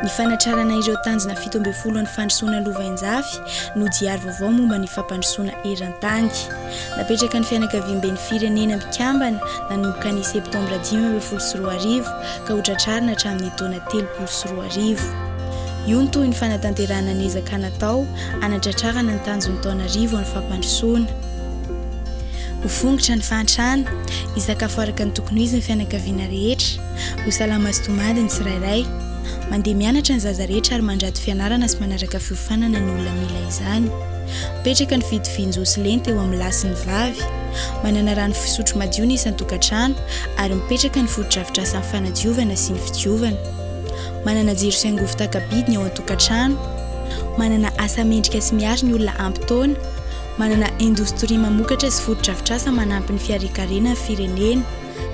Ny fanatrarana ireo tanjona fito ambin'ny folo an'ny fandrosoana lovainjafy no diary vaovao momba ny fampandrosoana eran-tany. Napetraka ny fianakaviamben'ny firenena mpikambana nanomboka ny Septambra dimy ambin'ny folo sy roa arivo ka ho tratrarina hatramin'ny taona telopolo sy roa arivo. Io no tohin'ny fanatanterahana ny ezaka natao hanatratrarana ny tanjon'ny taona arivo an'ny fampandrosoana. Ho fongotra ny fahantrana, hisakafo araka ny tokony ho izy ny fianakaviana rehetra, ho salama sy tomady ny tsirairay. Mandeha mianatra ny zaza rehetra ary mandrato fianarana sy manaraka fiofanana ny olona mila izany. Mipetraka ny fitovian-jo sy lenta eo amin'ny lahy sy ny vavy. Manana rano fisotro madio ny isan-tokantrano ary mipetraka ny fotodrafitrasan'ny fanadiovana sy ny fidiovana. Manana jiro sy angovo taka-bidy ny ao an-tokantrano. Manana asa mendrika sy miaro ny olona ampy taona. Manana indostria mamokatra sy fotodrafitrasa manampy ny fiharekarena ny firenena.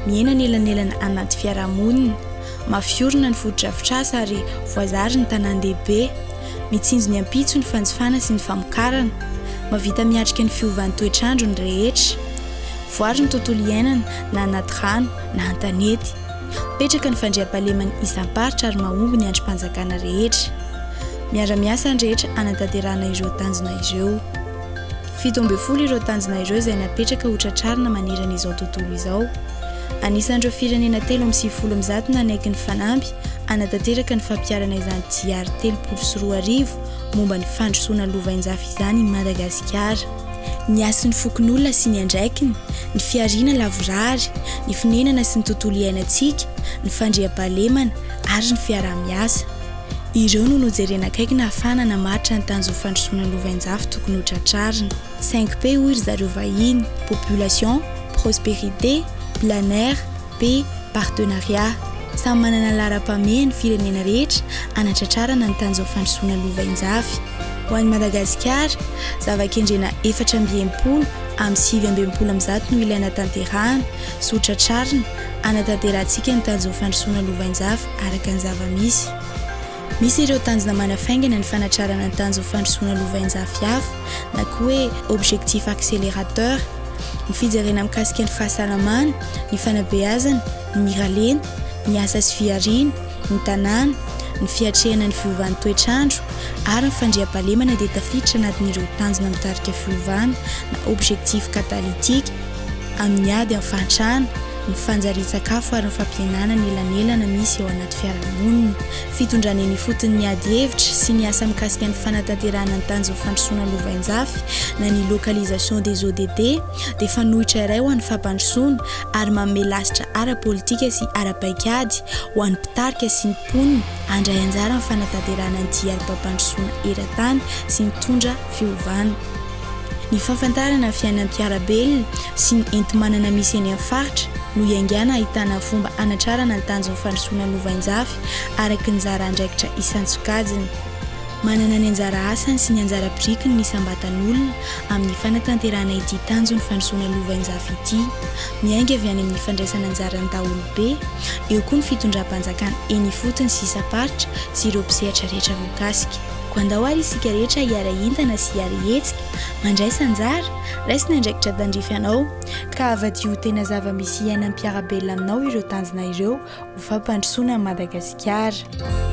Miaina anelanelana anaty fiarahamonina. Mafy orina ny fotodrafitrasa ary voazary ny tanàn-dehibe. Mitsinjo ny ampitso ny fanjifana sy ny famokarana. Mahavita miatrika ny fiovan'ny toetr'andro ny rehetra. Voaro ny tontolo iainana na anaty rano na an-tanety. Mipetraka ny fandriampahaleman'ny isam-paritra ary mahomby ny andrim-panjakana rehetra. Miara-miasa ny rehetra hanatanterahana ireo tanjona ireo. Fito ambin'ny folo ireo tanjona ireo izay napetraka ho tratrarina manerana izao tontolo izao. Anisan'ireo firenena telo amby sivifolo amin'ny zato nanaiky ny fanamby hanatanteraka ny fampiharana izany GR telopolo sy roa arivo momba ny fandrosoana lovainjafy izany i Madagasikara. ny hasin'ny fokonolona sy ny andraikiny, ny fihariana lavorary, ny fonenana sy ny tontolo iainantsika, ny fandriampahalemana ary ny fiaraha-miasa. Ireo no nojerena akaiky nahafahana namaritra ny tanjon'ny fandrosoana lovainjafy tokony ho tratrarina. 5P hoy ry zareo vahiny, Population, Prosperité, Plein Air, P, Partenariat, Samy manana laharam-pahamehana ny firenena rehetra hanatratrarana ny tanjon'ny fandrosoana lova injavy. Ho an'i Madagasikara, zava-kendrena efatra amby enimpolo amin'ny sivy amby enimpolo amby zato no ilaina hatanterahana, sy ho tratrarina, hanatanterahantsika ny tanjon'ny fandrosoana lova injavy araka ny zava-misy. Misy ireo tanjona manafaingana ny fanatrarana ny tanjon'ny fandrosoana lovainjafy hafa na koa hoe objectifs accélérateurs, ny fijerena mikasika ny fahasalamana, ny fanabeazana, ny miralenta, ny asa sy fihariana, ny tanàna, ny fiatrehana ny fiovan'ny toetr'andro ary ny fandriampahalemana dia tafiditra anatin'ireo tanjona mitarika fiovana na objectifs catalytiques amin'ny ady amin'ny fahantrana ny fanjarian-tsakafo ary ny fampihenana ny elanelana misy eo anaty fiarahamonina, fitondrana eny ifotony ny ady hevitra sy ny asa mikasika ny fanatanterahana ny tanjon'ny fandrosoana lovainjafy na ny localisation des ODD dia fanoitra iray ho an'ny fampandrosoana ary manome lasitra ara-politika sy ara-paikady ho an'ny mpitarika sy ny mponina handray anjara amin'ny fanatanterahana ny diarim-pampandrosoana eran-tany sy nitondra fiovana. Ny fahafantarana fiainam-piarabelona sy ny enti-manana misy eny amin'ny faritra no iaingàna ahitàna fomba hanatrarana ny tanjon'ny fandrosoana lovainjafy araka ny anjara andraikitra isan-tsokajiny. Manana ny anjara asany sy ny anjara birikiny ny isam-batan'olona amin'ny fanatanterahana ity tanjon'ny fandrosoana lovainjafy ity. Miainga avy any amin'ny fandraisan'anjaran'ny daholobe, eo koa ny fitondram-panjakana eny ifotony sy isam-paritra sy ireo mpisehatra rehetra voakasika. Koa andao ary isika rehetra hiara-hientana sy hiara-hihetsika, mandraisa anjara, raisina andraikitra tandrify anao, ka havadio ho tena zava-misy iainan'ny mpiara-belona aminao ireo tanjona ireo ho fampandrosoana an'i Madagasikara.